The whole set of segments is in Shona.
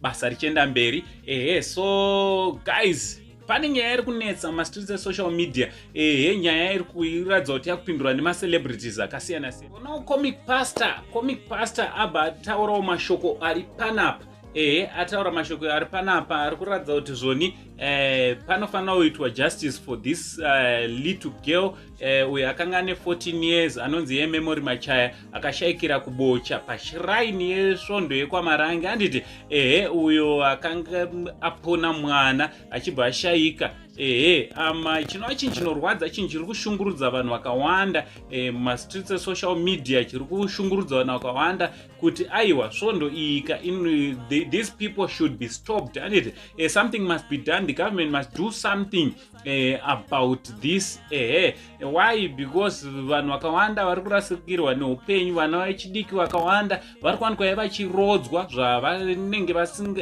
basa richienda mberi ehe so guys pane nyaya iri kunetsa mumastreets esocial media ehe nyaya iri kuratidza kuti yakupindurwa nemacelebrities akasiyana siyana onawo comic pastor comic pastor abva ataurawo mashoko ari panapa ehe ataura mashoko ari panapa ari kuratidza kuti zvoni eh, panofanira kuitwa justice for this uh, little girl eh, uyo akanga ane 14 years anonzi yememory machaya akashaikira kubocha pashiraini yesvondo yekwamarange anditi ehe uyo akanga apona mwana achibva ashaika ehe ama um, chinova chinhu chinorwadza chinhu chiri kushungurudza vanhu vakawanda e, mumastreets e, esocial media chiri kushungurudza vanhu vakawanda kuti aiwa svondo iyika these people should be stopped anditi e, something must be done the government must do something eh, about this ehe why because vanhu vakawanda vari kurasikirwa neupenyu vana vechidiki vakawanda vari kuwanikwa ye vachirodzwa zvavanenge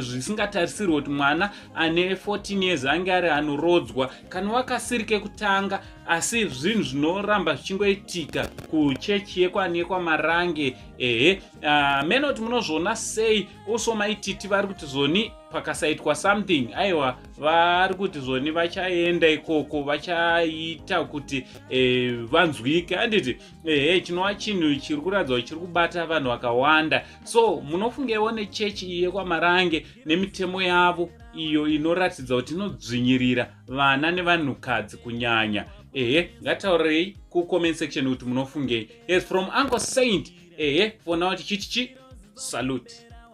zvisingatarisirwe kuti mwana ane 14 years ange ari anorodzwa kana wakasiri kekutanga asi zvinhu zvinoramba zvichingoitika kuchechi yekwane kwamarange ehe ah, mene kuti munozviona sei also maititi vari kuti zoni pakasaitwa something aiwa vari kuti zoni vachaenda ikoko vachaita kuti e, vanzwike handiti ehe eh, chinova chinhu chiri kuratidza kuti chiri kubata vanhu vakawanda so munofungeiwo nechechi iyi yekwamarange nemitemo yavo iyo inoratidza kuti inodzvinyirira vana nevanhukadzi kunyanya ehe ngataurirei kucomment section kuti munofungei yes from uncle saint ehe for now tichiti chi salute